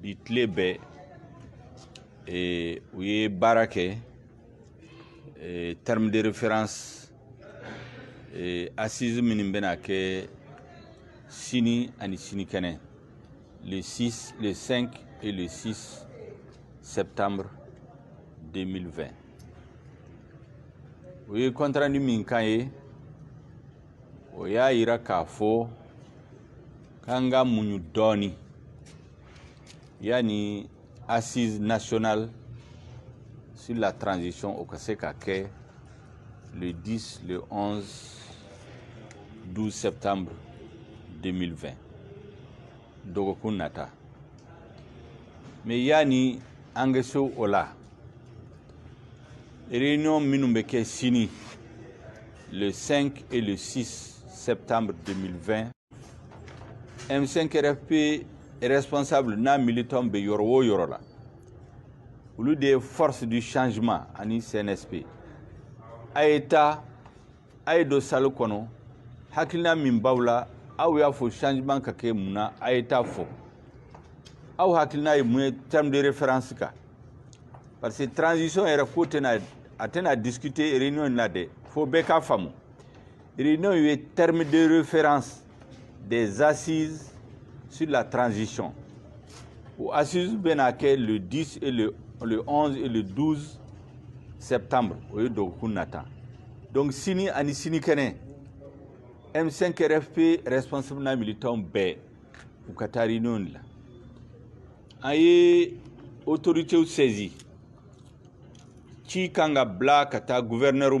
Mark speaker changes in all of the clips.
Speaker 1: bi tile bɛɛ u ye baara kɛ terme de référence assise minnu bɛna kɛ sini ani sinikɛnɛ le 6 le 5 et le 6 septembre 2020 u ye compte rendu min k'an ye o y'a yira k'a fɔ k'an ka muɲu dɔɔni yanni assise nationale sur la transition o ka se ka kɛ le 10 le 11 12 septembre 2020 dɔgɔkun nata mais yanni an ka se o la Réunion minnu bɛ kɛ sini le 5 et le 6 septembre 2020 M5RFP responsable n'a militant bɛ yɔrɔ o yɔrɔ la olu de ye force du changement ani CNSP a ye taa a ye don salle kɔnɔ hakilina min b'aw la aw y'a fɔ changement ka kɛ mun na a ye taa fɔ aw hakilina ye mun ye terme de référence kan parce que transition yɛrɛ ko tɛna a tɛna discuter réunion in na dɛ fo bɛɛ k'a faamu réunion ye terme de référence des assises sur la transition. Au assises Benaké le 10 et le, 11 et le 12 septembre, au lieu Donc, Sini Ani Sini Kene, M5RFP responsable na militant B, ou Katari non la. Aye, autorité ou saisie. Qui kanga bla kata gouverneur ou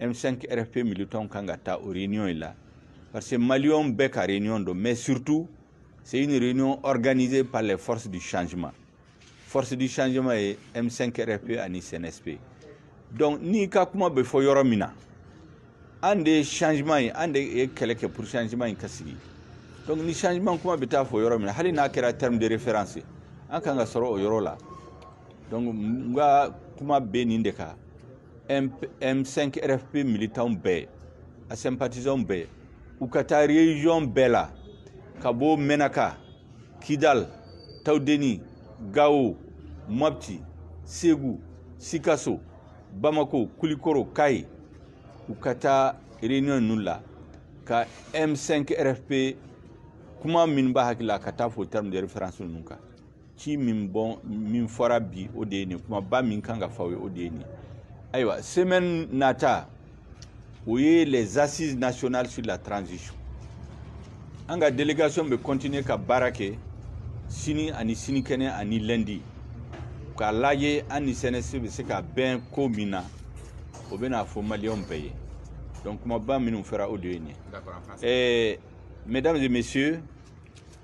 Speaker 1: M5 RFP militants kan ka taa o réunion in la parce que maliyɛn bɛɛ ka réunion don mais surtout c'est une réunion organisée par les forces du changement force du changement ye M5 RFP ani CNSP donc n'i ka kuma bɛ fɔ yɔrɔ min na an de ye changement ye an de ye kɛlɛ kɛ pour changement in ka sigi donc ni changement kuma bɛ taa fɔ yɔrɔ min na hali n'a kɛra terme de référence ye an kan ka sɔrɔ o yɔrɔ la donc n ka kuma bɛ nin de kan M5 RFP militanw bɛɛ a sympathisants bɛɛ u ka taa region bɛɛ la ka bɔ Mɛnaka Kidal Tawudeni Gawo Mopti Segu Sikaso Bamako Kulikoro Kayi u ka taa réunion ninnu la ka M5 RFP kuma minnu b'a hakili la ka taa fɔ terme de référence ninnu kan ci min bon min fɔra bi o de ye nin kumaba min kan ka fɔ aw ye o de ye nin ayiwa semaine nata o ye les assises nationales sur la transition an ka délégation bɛ continuer ka baara kɛ sini ani sinikɛnɛ ani lundi k'a lajɛ an ni CNSP bɛ se ka bɛn ko min na o bɛna fɔ maliyɛnw bɛɛ ye donc kumaba minnu fɔra o de ye nin ye mesdames et messieurs